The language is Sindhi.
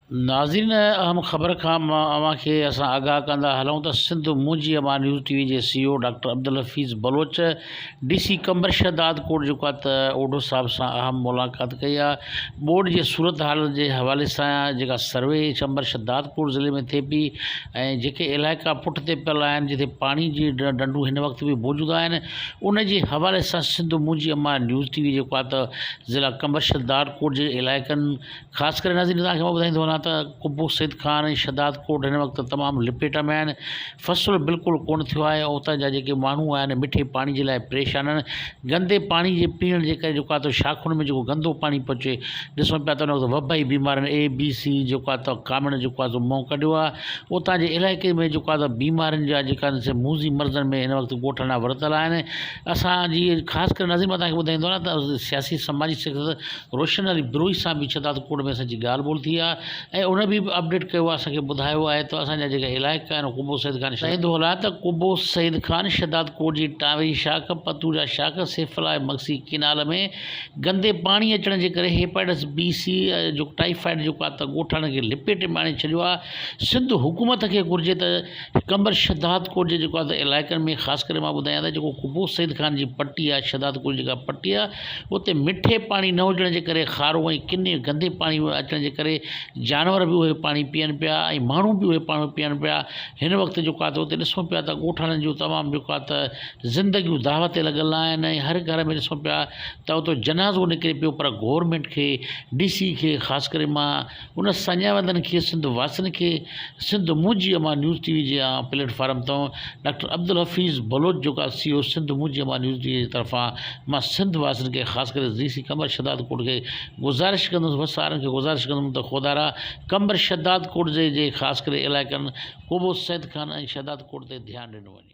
ناظرين اهم خبر کان مان اوهان کي اسان آگاهه ڪندا هلون ته Sindh Munhinji Amaan news T V جي C O doctor Abdulhafeez Baloch D C Qambar Shahdadkot جيڪو آهي ته اوڍو صاحب سان اهم ملاقات ڪئي آهي ٻوڏ جي صورتحال جي حوالي سان جيڪا سروي چمبرشهداد ڪوٽ ضلعي ۾ ٿئي پئي ۽ جيڪي علائقا پٺ تي پيل آهن جتي پاڻي جي ڊنڊون هن وقت به موجود آهن ان جي حوالي سان Sindh Munhinji Amaan news T V جيڪو آهي ته ضلع قمبرشهداد ڪوٽ جي علائقن خاص ڪري ناظرين توهان کي مان ٻڌائيندو وڃان ته قبو سيد خان ۽ شھداد ڪوٽ هن وقت تمام لپيٽ ۾ آهن فصل بلڪل ڪونه ٿيو آهي ۽ اتان جا جيڪي ماڻهو آهن مٺي پاڻي جي لاء پريشان آهن گندي پاڻي جي پيئڻ جي ڪري جيڪو آهي شاخن ۾ جيڪو گندو پاڻي پيو اچي ڏسون پيا ته ان وقت وبائي بيمارين اي بي سي جيڪو آهي ته ڪامڻ جيڪو آهي سو منهن ڪڍيو آهي اتان جي علائقي ۾ جيڪو آهي بيمارين جا جيڪا آهن سي موزي مرضن ۾ هن وقت ڳوٺ نا ورتل آهن اسان جي خاص ڪري ناظرين مان توهان کي ٻڌائيندو وڃان ته سياسي سماجي روشن علي بروهي سان به شهداد ڪوٽ ۾ اسان جي ڳالهه ٻولهه ٿي آهي ۽ ان به اپڊيٽ ڪيو آهي اسان کي ٻڌايو آهي ته اسان جا جيڪا علائقا آهن اهي قبو سيد خان شاهد هولا ته قبو سيد خان شهداد ڪوٽ جي ٽاوي شاخ پتوڙيا شاخ سيف الله ۽ مگسي ڪينال ۾ گندي پاڻي اچڻ جي ڪري هيپاٽس بي سي جو ٽائيفائيڊ جيڪو آهي ته ڳوٺاڻن کي لپيٽي ۾ آڻي ڇڏيو آهي سنڌ حڪومت کي گهرجي ته قمبر شهداد ڪوٽ جي جيڪو آهي ته علائقن ۾ خاص ڪري مان ٻڌايان ته جيڪو قبو سيد خان جي پٽي آهي شهداد ڪوٽ جيڪا پٽي آهي اتي مٺي پاڻي نه هجڻ جي ڪري کارو ۽ ڪني گندي پاڻي اچڻ جي ڪري جانور به اهي پاڻي پيئن پيا ۽ ماڻهو به اهي پاڻي پيئن پيا هن وقت جيڪو آهي اتي ڏسون پيا ته ڳوٺاڻن جون تمام جيڪو آهي ته زندگيون داء تي لڳل آهن ۽ هر گهر ۾ ڏسون پيا ته اتو جنازو نڪري پيو پر گورمينٽ کي ڊي سي کي خاص ڪري مان هن سڃاوندڙن کي سنڌ واسين کي Sindh Munhinji Amaan news T V جي عام پليٽ فارم تان ڊاڪٽر عبدالحفيظ بلوچ جوڪا C O Sindh Munhinji Amaan news T V جي طرفان مان سنڌ واسين کي خاص ڪري ڊي سي قمر شداد ڪوٽ کي گذارش ڪندس وس وارن کي گذارش ڪندم ته خودارا قمر شداد ڪوٽ جي جي خاص ڪري علائقن ڪوبو سيد خان ۽ شداد ڪوٽ تي ڌيان ڏنو وڃي.